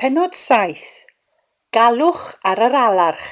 Pennod 7, Galwch ar yr Alarch!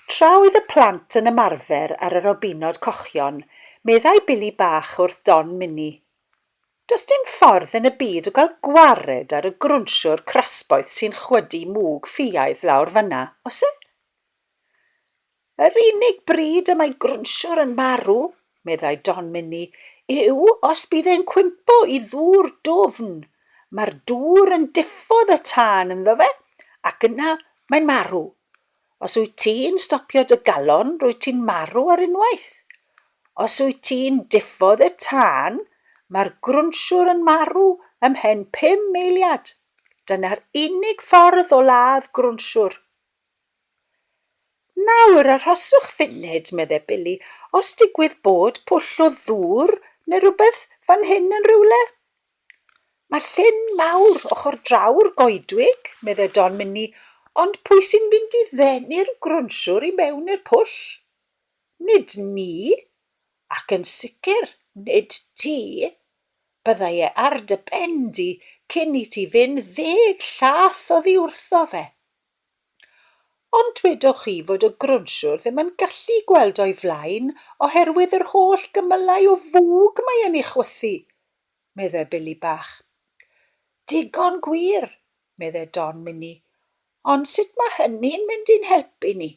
Tra oedd y plant yn ymarfer ar y robinod cochion, meddai Billy Bach wrth Don Mini, Does dim ffordd yn y byd o gael gwared ar y grwnsiwr crasboeth sy'n chwydu mwg ffiaidd lawr fan'na, oes e? Yr unig bryd y mae grwnsiwr yn marw, meddai Don Minni, yw os bydd e'n cwympo i ddŵr dwfn. Mae'r dŵr yn diffodd y tân ynddo fe, ac yna mae'n marw. Os wyt ti'n stopio dy galon, rwyt ti'n marw ar unwaith. Os wyt ti'n diffodd y tân, mae'r grwnsiwr yn marw ymhen pum eiliad. Dyna'r unig ffordd o ladd grwnsiwr. Nawr, arhoswch funud, medde Billy, os digwydd bod pwll o ddŵr neu rywbeth fan hyn yn rywle? Mae llyn mawr ochr draw'r goedwig, medde Don Mynni, ond pwy sy'n mynd i ddenu'r grwnsiwr i mewn i'r pwll? Nid ni, ac yn sicr nid ti. Byddai e ar dy ben di cyn i ti fynd ddeg llath oddi wrtho fe. Ond dwedoch chi fod y grwnsiwr ddim yn gallu gweld o'i flaen oherwydd yr holl gymylau o fwg mae e'n ei chwythu, meddai Billy Bach. Digon gwir, meddai Don Mini, ond sut mae hynny'n mynd i'n helpu ni?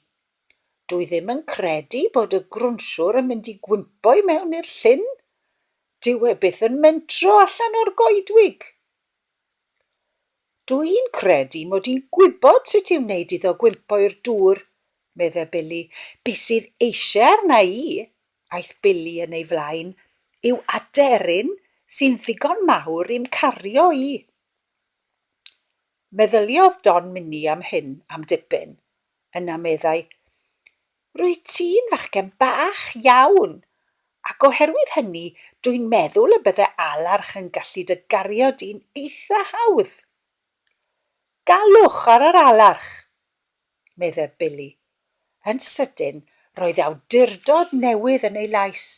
Dwi ddim yn credu bod y grwnsiwr yn mynd i gwympo i mewn i'r llyn. Dyw e byth yn mentro allan o'r goedwig. Dw i'n credu mod i'n gwybod sut i wneud iddo gwympo i'r dŵr, medde Billy. Be sydd eisiau arna i, aeth Billy yn ei flaen, yw aderyn sy'n ddigon mawr i'm cario i. Meddyliodd Don Minnie am hyn am dipyn, yna meddai, Rwyt ti'n fachgen bach iawn, ac oherwydd hynny dwi'n meddwl y bydde alarch yn gallu dy gario di'n eitha hawdd. Galwch ar yr alarch! medde Billy. Yn sydyn, roedd awdurdod newydd yn ei lais.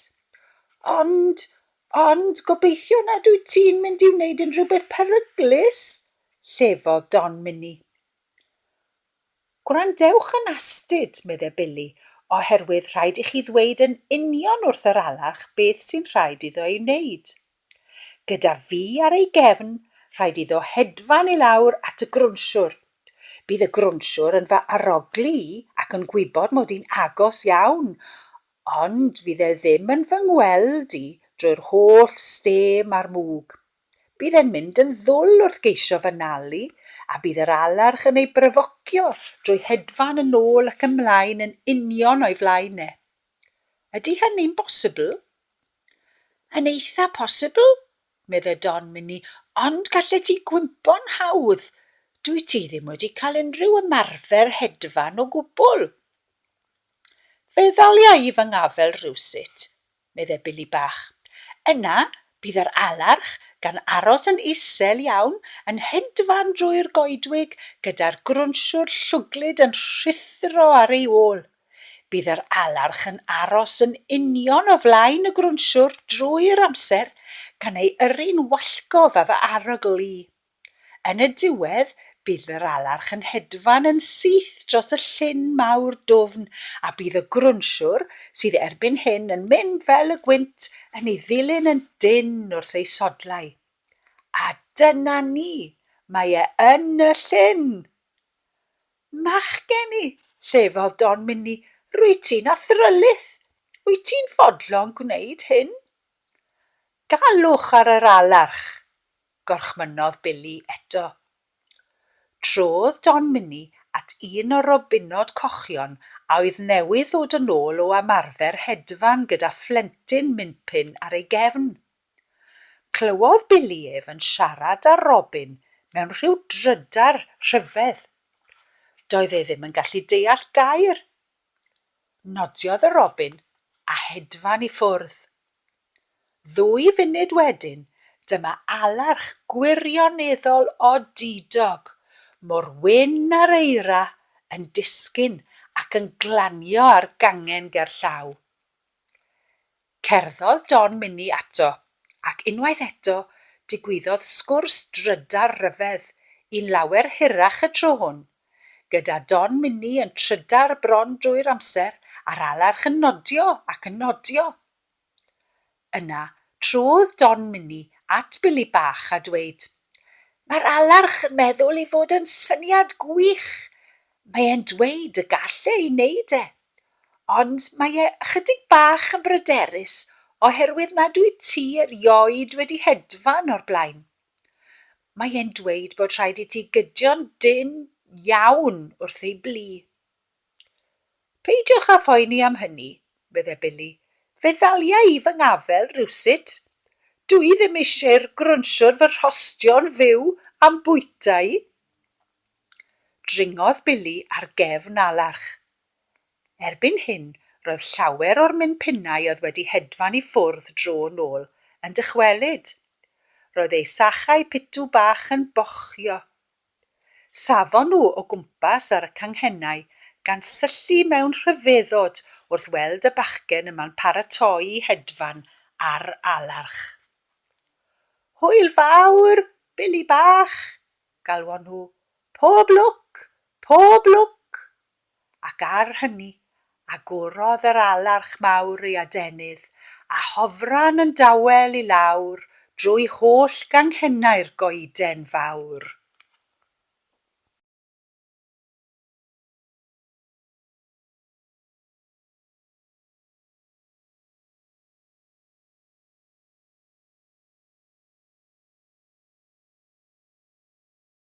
Ond, ond, gobeithio nad wyt ti'n mynd i wneud unrhyw beth peryglus! llefodd Don Minnie. Gwrandewch yn astud, medde Billy, oherwydd rhaid i chi ddweud yn union wrth yr alarch beth sy'n rhaid iddo ei wneud. Gyda fi ar ei gefn, rhaid iddo hedfan i lawr at y grwnsiwr. Bydd y grwnsiwr yn fy arogli i ac yn gwybod mod i'n agos iawn, ond fydd e ddim yn fy ngweld i drwy'r holl stêm a'r mwg. Bydd e'n mynd yn ddwl wrth geisio fy nal i, a bydd yr alarch yn ei bryfocio drwy hedfan yn ôl ac ymlaen yn union o'i flaen e. Ydy hynny'n bosibl? Yn eitha posibl, medde Don Mini, ond gallet ti gwympo'n hawdd. Dwyt ti ddim wedi cael unrhyw ymarfer hedfan o gwbl. Fe ddalia i fy ngafel rywsut. meddai Billy Bach. Yna, bydd yr alarch gan aros yn isel iawn yn hedfan drwy'r goedwig gyda'r grwnsiwr llwglyd yn rhuthro ar ei ôl. Bydd yr alarch yn aros yn union o flaen y grwnsiwr drwy'r amser, gan ei yrru'n wallgof â fy arogl i. Yn y diwedd, bydd yr alarch yn hedfan yn syth dros y llyn mawr dwfn a bydd y grwnsiwr, sydd erbyn hyn yn mynd fel y gwynt, yn ei ddilyn yn dynn wrth ei sodlau. A dyna ni! Mae e yn y llyn! Machgen i! llefodd Don Minni, rwyt ti'n athrylith! Wyt ti'n fodlon gwneud hyn? Galwch ar yr alarch! gorchmynnodd Billy eto. Trodd Don Minnie at un o'r robinod cochion a oedd newydd ddod yn ôl o ymarfer hedfan gyda phlentyn minpin ar ei gefn. Clywodd Billy ef yn siarad â'r robin mewn rhyw drydar rhyfedd. Doedd e ddim yn gallu deall gair. Nodiodd y robin a hedfan i ffwrdd. Ddwy funud wedyn, dyma alerch gwirioneddol odidog, mor wyn â'r eira, yn disgyn ac yn glanio ar gangen gerllaw. Cerddodd Don Minnie ato, ac unwaith eto, digwyddodd sgwrs drydar ryfedd, un lawer hirach y tro hwn, gyda Don Minnie yn trydar bron drwy'r amser, a'r alerch yn nodio ac yn nodio. Yna, trodd Don Minnie at Billy Bach a dweud, Mae'r alarch yn meddwl ei fod yn syniad gwych! Mae e'n dweud y gall e ei neud e! Ond mae e ychydig bach yn bryderus oherwydd nad wyt ti erioed wedi hedfan o'r blaen. Mae e'n dweud bod rhaid i ti gydio'n dynn iawn wrth ei blu. Peidiwch â phoeni am hynny, medde Billy. Fe ddaliai i fy ngafel rywsut. Dw i ddim eisiau'r grwnsiwr fy rhostio'n fyw a'm bwytai. Dringodd Billy ar gefn alarch. Erbyn hyn, roedd llawer o'r minpinnau oedd wedi hedfan i ffwrdd dro nôl yn dychwelyd. Roedd ei sachau pitw bach yn bochio. Safon nhw o gwmpas ar y canghennau, gan syllu mewn rhyfeddod wrth weld y bachgen yma'n paratoi'i hedfan ar alarch. Hwyl fawr, Billy bach! galwon nhw. Pob lwc! Pob lwc! ac ar hynny agorodd yr alarch mawr ei adenydd, a hofran yn dawel i lawr drwy holl ganghennau'r goeden fawr.